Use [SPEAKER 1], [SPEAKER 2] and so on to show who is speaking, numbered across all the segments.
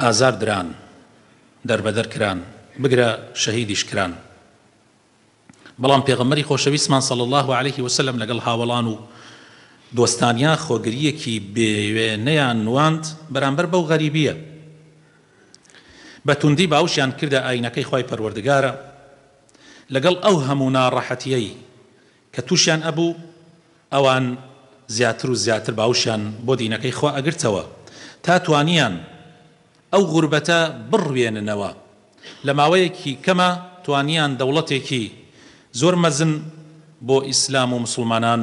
[SPEAKER 1] ئازار دران دەربەدەر کران بگرە شەهیدیش کران بەڵام پێغەمبەری خۆشەویستمان صلی اللە علیه وسلم لەگەڵ هاوەڵان و دۆستانیا خۆگریەکی بێوێنەیان نواند بەرامبەر بەو غەریبیە بەتوندی باوشیان کردە ئاینەکەی خوای پەروەردگارە لەگەڵ ئەو هەموو ناڕەحەتیەی کە توشیان ئەبوو ئەوان زیاتر و زیاتر باوشیان بۆ دینەکەی خوا ئەگرتەوە تا توانیان ئەو غوربەتە بڕوێننەوە لە ماوەیەکی کەما توانیان دەوڵەتێکی زۆر مەزن بۆ ئیسلام و موسڵمانان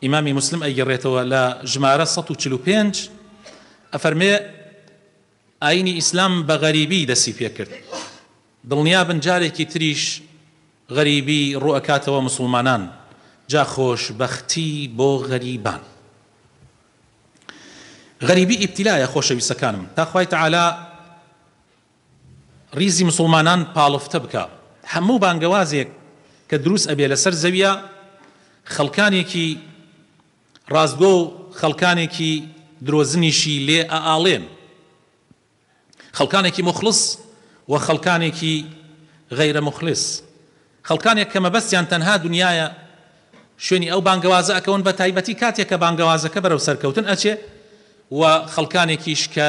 [SPEAKER 1] ئیمامی موسلم ئەیگەڕێتەوە لە ژمارە سەد و چل و پێنج ئەفەرمێ، ئاینی ئیسلام بە غەریبی دەستی پێکرد، دڵنیابن جارێکی تریش غەریبی ڕووئەکاتەوە موسڵمانان، جا خۆش بەختی بۆ غەریبان. غەریبی ئیبتیلایە خۆشەویستەکانم، تا خوای تەعالا. ڕیزی مسوڵمانان پاڵفتە بکا هەموو بانگەوازێک کە دروست ئەبێ لەسەر زەویا خەڵکانێکی ڕاستگۆ و خەڵکانێکی درۆزنیشی لێ ئەئاڵێن خەڵکانێکی موخڵس و خەڵکانێکی غەیرە موخلس خەڵکانێک کە مەبەستیان تەنها دنیایە شوێنی ئەو بانگەوازە ئەکەون بە تایبەتی کاتێک کە بانگەوازەکە بەرەو سەرکەوتن ئەچێ و خەڵکانێکیش کە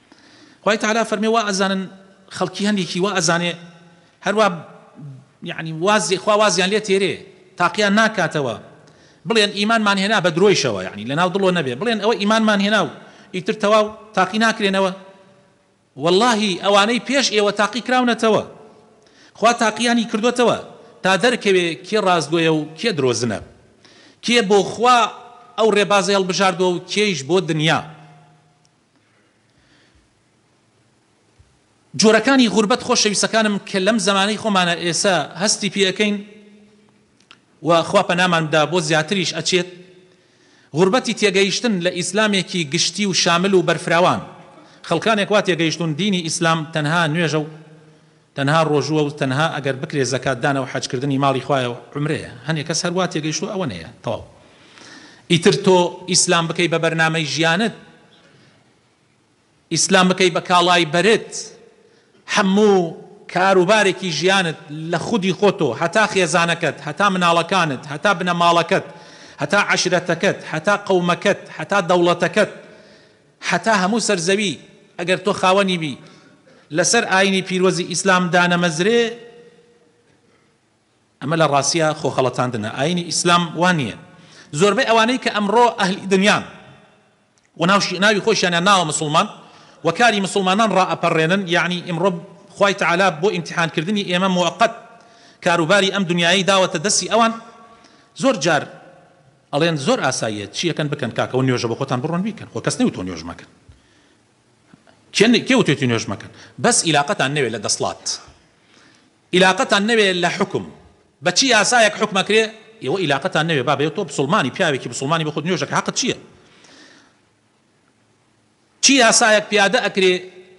[SPEAKER 1] خوای تەعالا فەرمێ وا ئەزانن خەڵکی هەندێکی وا ئەزانێ هەروا یعنی وازی خوا وازیان لێ تێرێ تاقیان ناکاتەوە بڵێن ئیمانمان هێنا بە درۆیشەوە یعنی لەناو دڵۆ نەبێ بڵێن ئەوە ئیمانمان هێنا و ئیتر تەواو تاقی ناکرێنەوە واللهی ئەوانەی پێش ئێوە تاقی کراونەتەوە خوا تاقیانی کردوتەوە تا دەرکەوێ کێ ڕاستگۆیە و کێ درۆزنە کێ بۆ خوا ئەو ڕێبازە هەڵبژاردووە و کێیش بۆ دنیا جۆرەکانی غوربەت خۆشەویستەکانم کە لەم زەمانەی خۆمانە ئێسە هەستی پێ ئەکەین و خوا پەنامان بدا بۆ زیاتریش ئەچێت غوربەتی تێگەیشتن لە ئیسلامێکی گشتی و شامل و بەرفراوان خەڵکانێک وا تێگەیشتوون دینی ئیسلام تەنها نوێژە و تەنها ڕۆژووە و تەنها ئەگەر بکرێ زەکات دانە و حەج کردنی ماڵی خوایە و عومرەیە هەنێ کەس هەر وا تێگەیشتووە ئەوە نەیە تەواو ئیتر تۆ ئیسلام بکەی بە بەرنامەی ژیانت ئیسلام بکەی بە کاڵای بەرت هەموو کار و بارێکی ژیانت لە خودی خۆتۆ هەتا خێزانەکەت هەتا مناڵەکانت هەتا بنەماڵەکەت هەتا عەشرەتەکەت هەتا قەومەکەت هەتا دەوڵەتەکەت هەتا هەموو سەر زەوی ئەگەر تۆ خاوەنی بی لەسەر ئاینی پیرۆزی ئیسلام دانەمەزرێ ئەمە لە ڕاستیا خۆ خەڵەتاندنە ئاینی ئیسلام وا نییە زۆربەی ئەوانەی کە ئەمڕۆ ئەهلی دنیان و ناوشی ناوی خۆشیانیان ناوە مسلمان و کاری مسلمانان ڕائەپەڕێنن یعنی ئیمڕۆ خوای تعالی بۆ ئیمتیحانکردنی ئێمە موقت کاروباری ئەم دنیای داوەتە دەستی ئەوان زۆر جار ئەڵێن زۆر ئاساییە چی ئەکەن بکەن کاکە و نوێژە بۆخۆتان بڕۆن بیکەن خۆ کەس نەوتووە نوێژ مەکەن کێ کێ وتێتی نوێژ مەکەن بەس ئیلاقەتان نەوێ لە دەسڵات ئیلاقەتان نەوێ لە حکم بە چی یاسایەک حکمەکرێ ئێوە ئیلاقەتان نەوێ بابێ تۆ بسڵمانی پیاوێکی بسڵمانی بۆ خۆت نوێژەکە حەقت چییە چی یاسایەک پیادە ئەکرێ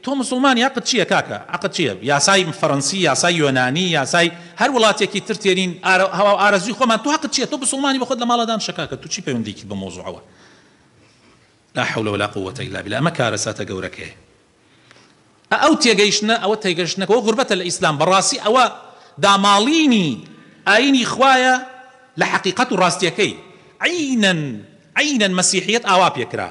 [SPEAKER 1] تۆ موسڵمان یاقت چیە کاکە عەقت چیە یاسای فەرەنسی یاسای یۆنانی یاسای هەر وڵاتێکی تر تێرین ئارە هەواو ئارەزوی خۆمان تۆ هەقت چیە تۆ بسوڵمانی بەخۆت لە ماڵە دانشە کاکە تو چی پەیوەندیکیت بەم مەوزوعەوە لا حول ولا قووەتە الا باللە ئەمە کارەساتە گەورەکەیە. ئە ئەو تێگەیشتنە ئەوە تێگەشتنە کە وە غوربەتە لە ئیسلام بە ڕاسی ئەوە داماڵینی ئاینی خوایە لە حەقیقەت و ڕاستیەکەی عینەن عینەن مەسیحیەت ئاوا پێکرا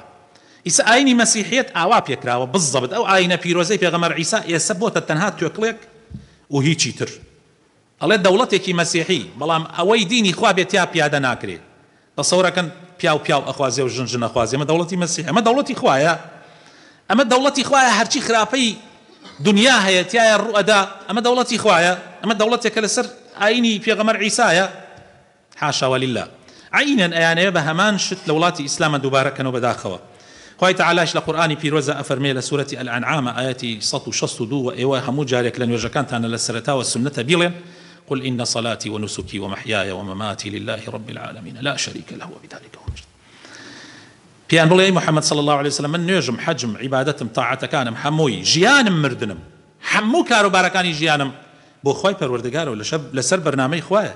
[SPEAKER 1] ئیسە ئاینی مەسیحیەت ئاوا پێکراوە بززەبت ئەو ئاینە پیرۆزەی پێغەمەر عیسا ئێسە بۆتە تەنها توێکڵێک و هیچی تر. ئەڵێ دەوڵەتێکی مەسیحی بەڵام ئەوەی دینی خوا بێ تیا پیادە ناکرێ تەسەورەکەن پیاو پیاو ئەخوازێ و ژن ژن ئەخوازێ ئەمە دەوڵەتی مەسیحە ئەمە دەوڵەتی خوایە ئەمە دەوڵەتی خوایە هەرچی خراپەی دونیا هەیە تیایە ڕوئەدا ئەمە دەوڵەتی خوایە ئەمە دەوڵەتێکە لەسەر ئاینی پێغەمەر عیسایە. حاشا وللە عینەن ئەیانەوێ بە هەمان شت لە وڵاتی ئیسلامە دووبارە کەنەوە بەداخەوە خوای تەعالایش لە قورئانی پیرۆزا ئەفەرمێ لە سورەتی الانعام ئایەتی سەد و شەست و دوو وە ئێوە هەموو جارێک لە نوێژەکانتانا لە سەرەتاوە سوننەتە بیڵێن قل ان صلاتي ونسكي ومحیای ومماتی للە رب العالمین لا شریک له وبذلک امرت پێیان بڵێ ئەی محمد صلی الله علیه وسلم من نوێژم حەجم عیبادەتم تاعەتەکانم هەمووی ژیانم مردنم هەموو کاروبارەکانی ژیانم بۆ خوای پەروەردگارەوە لەسەر بەرنامەی خوایە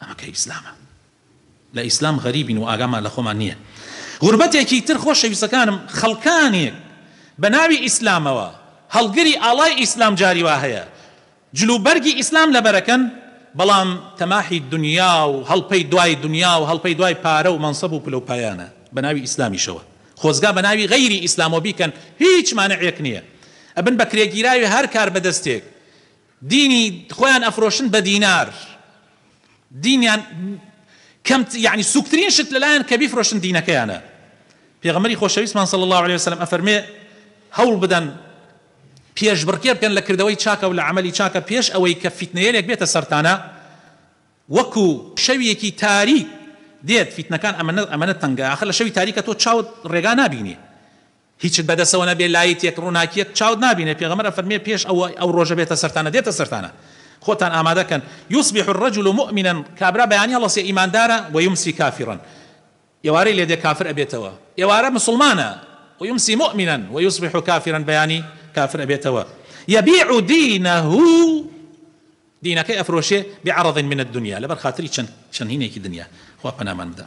[SPEAKER 1] ئەمە کەی ئیسلامە لە ئیسلام غەریبین و ئاگامان لە خۆمان نیە غوربەتێکی تر خۆشەویستەکانم خەڵکانێک بە ناوی ئیسلامەوە هەڵگری ئاڵای ئیسلام جاری وا هەیە جل و بەرگی ئیسلام لەبەرەکەن بەڵام تەماحی دونیا و هەڵپەی دوای دونیا و هەڵپەی دوای پارە و مەنسەب و پلە و پایانە بە ناوی ئیسلامیشەوە خۆزگا بە ناوی غەیری ئیسلامەوە بیکەن هیچ مانعێک نیە ئەبن بە کرێگیراوی هەر کاربەدەستێک دینی خۆیان ئەفرۆشن بە دینار دینیان کەم یعنی سوکترین شت لەلایان کە بیفرۆشن دینەکەیانە پێغەمبەری خۆشەویستمان صلی اللە علیە وسلم ئەفەرمێ هەوڵ بدەن پێشبڕکێ بکەن لە کردەوەی چاکە و لە عەمەلی چاکە پێش ئەوەی کە فیتنەیەلێک بێتە سەرتانە وەکو شەویەکی تاریک دێت فیتنەکان ئەمەنە ئەمەنە تەنگە ئاخر لە شەوی تاریکە تۆ چاوت ڕێگا نابینی هیچت بەدەسەوە نەبێ لایت یەک ڕوناکیەک چاوت نابینێ پێغەمبەر ئەفەرموێ پێش ئەوەی ئەو ڕۆژە بێتە سەرتانە دێتە سەرتانە خۆتان ئامادەکەن یصبح الرجل مؤمنا کابرا بەیانی هەڵەسێ ئیماندارە ویمسی کافرا ئێوارەی لێدێ کافر ئەبێتەوە ئێوارە مسوڵمانە ویمسی مؤمنا ویصبح کافرا بەیانی کافر ئەبێتەوە یبیع دینه دینەکەی ئەفرۆشێ بعرض من الدنیا لەبەر خاتری چەند چەند هینێکی دنیا خوا پەنامان بدا.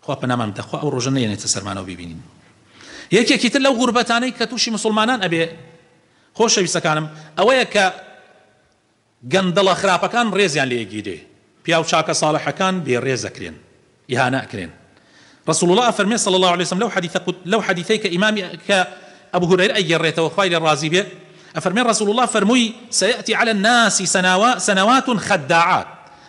[SPEAKER 1] خوا پەنامان بدە خوا ئەو ڕۆژە نەیەنێتە سەرمانەوە بیبینین یەکێکی تر لەو غوربەتانەی کە تووشی موسڵمانان ئەبێ خۆشەویستەکانم ئەوەیە کە گەندەڵە خراپەکان ڕێزیان لێ ئەگیرێ پیاو چاکە ساڵحەکان بێ ڕێز ئەکرێن ئیهانە ئەکرێن رسول الله ئەفەرمێ صلی الله علیه وسلم لەو حدیث لەو حدیثەی کە ئیمام کە ابو هريره ئەگێڕێتەوە خوای لێ ڕازی بێ ئەفەرمێ رسول الله فەرمووی سيأتي على الناس سنوات خداعات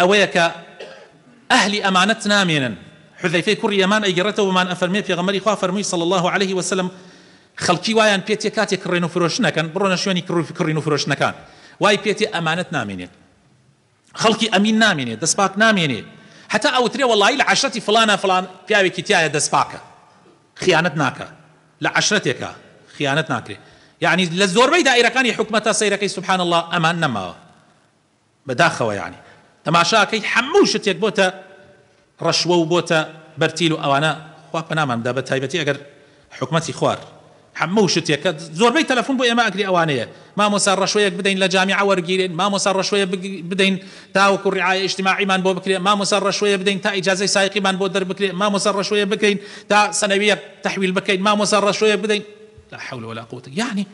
[SPEAKER 1] ئەوەیە کە ئەهلی ئەمانەت نامێنن، حوذەیفەی کوڕی یەمان ئەیگێڕێتەوە مان ئەفەرموێ پێغەمبەری خوا فەرمووی صلی اللە علیه وسلم، خەڵکی وایان پێتیە کاتێ کڕێن و فرۆشتن ئەکەن، بڕۆنە شوێنی کڕین و فرۆشتنەکان، وای پێتیە ئەمانەت نامێنێت، خەڵکی ئەمین نامێنێ، دەست پاک نامێنێ، هەتا ئەوترێ وەڵایی لە عەشرەتی فڵانە فڵان پیاوێکی تیایە دەست پاکە، خیانەت ناکا، لە عەشرەتێکا خیانەت ناکرێ، یەعنی لە زۆربەی دائیرەکانی حکومەتە سەیرەکەی سبحان اللە ئەمان نەماوە، بەداخەوە یانی تەماشا ئەکەیت هەموو شتێک بۆتە ڕەشوە و بۆتە بەرتیل و ئەوانە خوا پەنامان بدا بەتایبەتی ئەگەر حکومەتی خوار هەموو شتێک کە زۆربەی تەلەفون بۆ ئێمە ئەگری ئەوانەیە مامۆسا ڕەشوەیەک بدەین لە جامیعە وەرگیرێین مامۆسا ڕەشوەیە بدەین تاوەکو ڕیعایە ئیجتماعیمان بۆ بکرێ مامۆسا ڕەشوەیە بدەین تا ئیجازەی سایقیمان بۆ دەربکرێ مامۆسا ڕەشوەیە بکەین تا سەنەویەک تەحویل بکەین مامۆسا ڕەشوەیەک بدەین لا حول ولا قوە یانی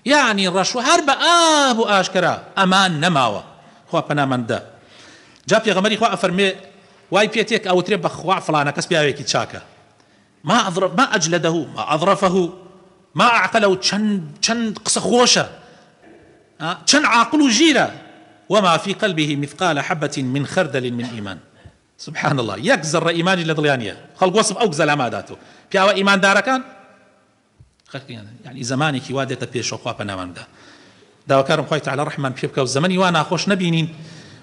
[SPEAKER 1] یەعنی ڕەش و هەر بە ئاب و ئاشکەرا ئەمان نەماوە خوا پەنامان دا جا پێغەمبەری خوا ئەفەرموێ وای پێ تێک ئەوترێ بە خوا فڵانە کەس پیاوێکی چاکە ما اظرف ما اجلده ما اظرفه ما اعقله چەند چەند قسە خۆشە چەند عاقل و ژیرە وما في قلبه مثقال حبة من خردل من إيمان سبحان الله یەک زەڕە ئیمانی لە دڵیان نیە خەڵک وەسف ئەو گزەلاما داتەوە پیاوە ئیماندارەکان خەلقیان یانی زەمانێکی وا دێتە پێشەوە خوا پەنامان بدا داواکارم خوای تەعالا ڕەحممان پێ بکا و زەمەنی وا ناخۆش نەبینین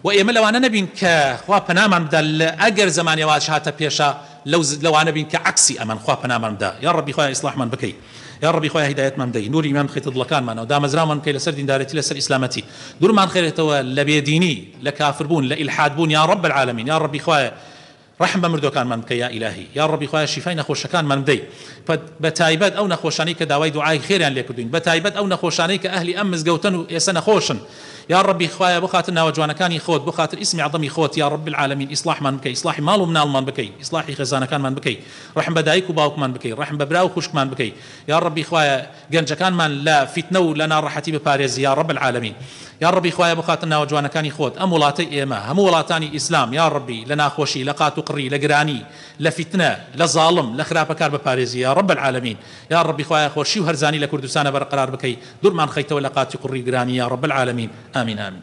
[SPEAKER 1] و ئێمە لەوانە نەبین کە خوا پەنامان بدا لە ئەگەر زەمانێ واش هاتە پێشا لەو لەوانە بین کە عەکسی ئەمەن خوا پەنامان بدا یا ڕەبی خوای ئیسڵاحمان بکەی یا ڕەبی خوای هیدایەتمان بدەی نوری ئیمان بخەیتە دڵەکانمانەوە دامەزراومان بکەی لەسەر دیندارێتی لەسەر ئیسلامەتی دورمان خەرێتەوە لە بێدینی لە کافربوون لە ئیلحادبوون یا ڕەب العالمین یا ڕەبی خوایە ڕەحم بە مردوەکانمان بکە یا ئیلاهی. یاڕەبی خوایە شیفای نەخۆشەکانمان بدەی پە بە تایبەت ئەو نەخۆشانەی کە داوای دوعای خێریان لێ کردوین بە تایبەت ئەو نەخۆشانەی کە ئەهلی ئەم مزگەوتەن و ئێسە نەخۆشن یاڕەبی خوایە بۆ خاتر ناوە جوانەکانی خۆت بۆ خاتر ئیسمی عەزەمی خۆت یاڕەب العالمین ئیسڵاحمان بکەی ئیسڵاحی ماڵ و مناڵمان بکەی ئیسڵاحی خێزانەکانمان بکەی ڕەحم بە دایک و باوکمان بکەی ڕەحم بە برا و خوشکمان بکەی یاڕەبی خوایە گەنجەکانمان لە فیتنە و لە ناڕەحەتی بپارێزی یاڕەب العالمین یاڕەبی خوایە بخاتە ناوە جوانەکانی خۆت ئەم وڵاتەی ئێمە هەموو وڵاتانی ئیسلام یاڕەبی لە ناخۆشی لە قات و قڕی لە گرانی لە فیتنە لە زاڵم لە خراپەکار بپارێزی یاڕەب العالمین یاڕەبی خوایە خۆشی و هەرزانی لە کوردستانە بەرقەرار بکەی دورمان خەیتەوە لە قاتی قڕی و گرانی یاڕەب العالمین ئامین ئامین.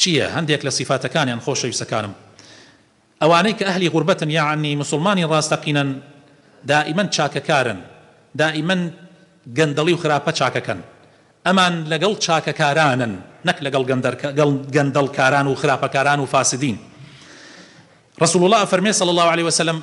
[SPEAKER 1] چیە هەندێک لە سیفاتەکانیان خۆشەویستەکانم ئەوانەی کە ئەهلی غوربەتن یەعنی موسڵمانی ڕاستەقینەن دائیمەن چاکەکارن دائیمەن گەندەڵی و خراپە چاکەکەن ئەمان لەگەڵ چاکەکارانن نەک لەگەڵ گەندەڵکاران و خراپەکاران و فاسدین ڕەسوڵ اللە ئەفەرمێ صلی اللە علیە وسلم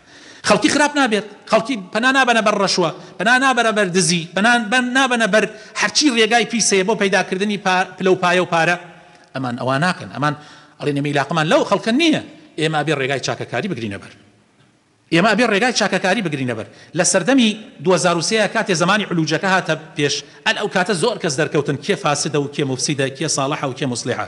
[SPEAKER 1] خەڵکی خراپ نابێت، خەڵکی پەنا نابەنە بەر ڕەشوە، پەنا نابەرە بەر دزی، پەنا نابەنە بەر هەرچی ڕێگای پیس هەیە بۆ پەیداکردنی پلە و پایە و پارە، ئەمان ئەوا ناکەن، ئەمان ئەڵێن ئێمە ئیلاقەمان لەو خەڵکە نییە، ئێمە ئەبێ ڕێگای چاکەکاری بگرینە بەر، ئێمە ئەبێ ڕێگای چاکەکاری بگرینە بەر، لە سەردەمی دوو هەزار و سێ کاتێ زەمانی علوجەکە هاتە پێش، ئەل ئەو کاتە زۆر کەس دەرکەوتن کێ فاسدە و کێ موفسیدە، کێ ساڵحە و کێ موسڵیحە،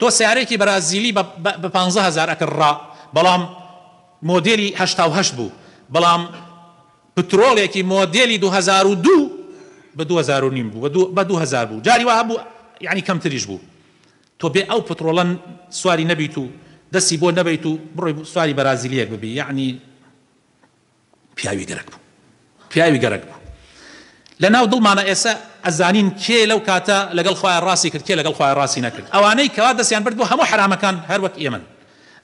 [SPEAKER 1] تۆ سەیارەیەکی بەرازیلی بە بە پانزە هەزار ئەکڕ ڕا بەڵام مۆدێلی هەشتا و هەشت بوو بەڵام پترۆڵێکی مۆدێلی دوو هەزار و دوو بە دوو هەزار و نیم بوو بە دوو بە دوو هەزار بوو جاری وا هەبوو یانی کەمتریش بوو تۆ بێ ئەو پترۆڵە سواری نەبیت و دەستی بۆ نەبەیت و بڕۆی سواری بەرازیلیەک ببی یانی پیاوی گەرەک بوو پیاوی گەرەک بوو لە ناو دڵمانە ئێسە ئەزانین کێ لەو کاتە لەگەڵ خوایە ڕاستی کرد کێ لەگەڵ خوایە ڕاستی نەکرد ئەوانەی کەوا دەستیان برد بۆ هەموو حەرامەکان هەر وەک ئێمەن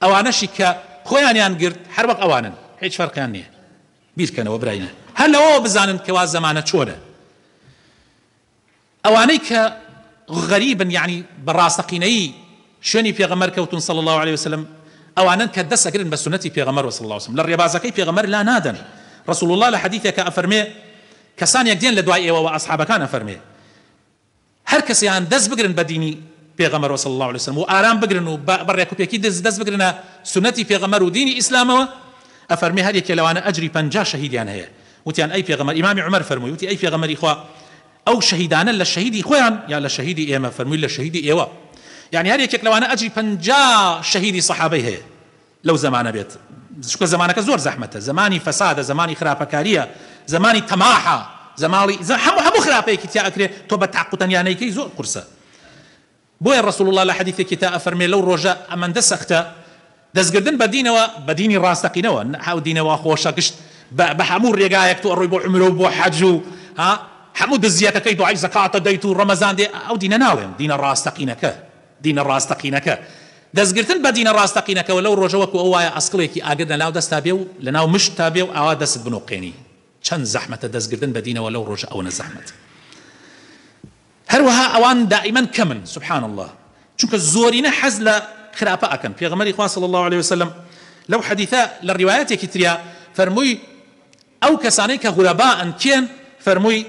[SPEAKER 1] ئەوانەشی کە خۆیانیان گرت هەر وەک ئەوانن هیچ فەرقیان نییە بیرکەنەوە براینە هەر لەوەوە بزانن کەوا زەمانە چۆنە. ئەوانەی کە غەریبن یەعنی بە ڕاستەقینەیی شوێنی پێغەمبەر کەوتون صلی اللە علیە وسلم ئەوانەن کە دەست ئەگرن بە سوننەتی پێغەمبەر صلی اللە علیە وسلم لە ڕێبازەکەی پێغەمبەر لا نادەن رسول اللە لە حەدیثێکا ئەفەرمێ کەسانێک دێن لە دوای ئێوە وە ئەصحابەکان ئەفەرمێ هەر کەسێان دەست بگرن بە دینی پێغەمبەر صلی اللە علیە وسلم و ئارام بگرن و بە ڕێک و پێکی دز دەست بگرنە سوننەتی پێغەمبەر و دینی ئیسلامەوە ئەفەرمێ هەر یەکێ لەوانە ئەجری پەنجا شەهیدیان هەیە وتیان ئەی پێغەمبەر، ئیمامی عومەر فەرمووی، وتی ئەی پێغەمبەری خوا ئەو شەهیدانە لە شەهیدی خۆیان یان لە شەهیدی ئێمە؟ فەرمووی لە شەهیدی ئێوە، یەعنی هەر یەکێک لەوانە ئەجری پەنجا شەهیدی سەحابەی هەیە لەو زەمانە بێت، چونکە زەمانەکە زۆر زەحمەتە، زەمانی فەسادە، زەمانی خراپەکارییە، زەمانی تەماحە، زەماڵی هەموو هەموو خراپەیەکی تیا ئەکرێ، تۆ بە تاق و تەنیا نەیکەی زۆر قورسە. بۆیە ڕەسوڵ اللە لە حەدیثێکی تا ئەفەرمێ لەو ڕۆژە ئەمەندە سەختە دەستگردن بە دینەوە، بە دینی ڕاستەقینەوە نە ئەو دینە وا خۆشە گشت بە بە هەموو ڕێگایەک تۆ ئەڕۆی بۆ عومرە و بۆ حەج و ها هەموو دزیەتەکەی دوعای زەکاتە دەیت و ڕەمەزان دێ ئەو دینە ناڵێم دینە ڕاستەقینەکە دینە ڕاستەقینەکە دەستگرتن بە دینە ڕاستەقینەکەوە لەو ڕۆژە وەکو ئەو وایە ئەسکڵێکی ئاگر لەناو دەستتا بێ و لەناو مشتتا بێ و ئاوا دەستت بنوقێنی چەند زەحمەتە دەستگردن بە دینەوە لەو ڕۆژە ئەوەنە زەحمەتە. هەروەها ئەوان دائیمەن کەمن سبحان اللە چونکە زۆرینە حەز لە خراپە ئەکەن پێغەمبەری خوا صلی اللە علیە وسلم لەو حەدیثە لە ڕیوایەتێکی تریا فەرمووی ئەو کەسانەی کە غورەبائن کێن فەرمووی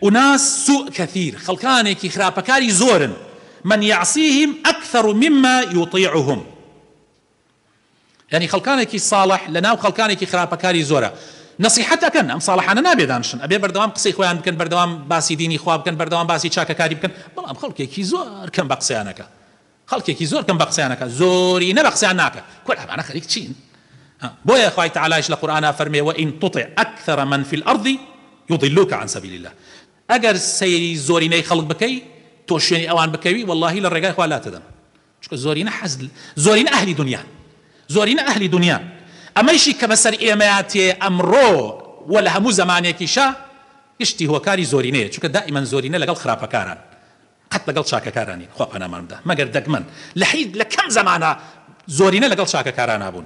[SPEAKER 1] ئوناس سوء کەثیر خەڵکانێکی خراپەکاری زۆرن من یعصیهم اکثر مما یطیعهم یانی خەڵکانێکی ساڵح لە ناو خەڵکانێکی خراپەکاری زۆرە نەسیحەت ئەکەن ئەم ساڵحانە نابێ دانشن ئەبێ بەردەوام قسەی خۆیان بکەن بەردەوام باسی دینی خوا بکەن بەردەوام باسی چاکەکاری بکەن بەڵام خەڵکێکی زۆر کەم بە قسەیان ئەکا خەڵکێکی زۆر کەم بە قسەیان ئەکا زۆرینە بە قسەیان ناکە کورد ئەمانە خەریک چین بۆیە خوای تعالیش لە قورئانا فەرمێ وئین تطع اکثر من فی الارض یضلوک عن سبیل الله ئەگەر سەیری زۆرینەی خەڵک بکەی تۆ شوێنی ئەوان بکەوی واللهی لە ڕێگای خوا لاتدەن چونکە زۆرینە حەز زۆرینە ئەهلی دونیان زۆرینە ئەهلی دونیان ئەمەیشی کە بەسەر ئێمەیا تێیە ئەمڕۆ و لە هەموو زەمانێکیشا گشتی هۆکاری زۆرینەیە چونکە دائیمەن زۆرینە لەگەڵ خراپەکاران قەت لەگەڵ چاکەکارا نین خوا پانامان بدا مەگەر دەگمەن لە حی لە کەم زەمانە زۆرینە لەگەڵ چاکەکارانابوون.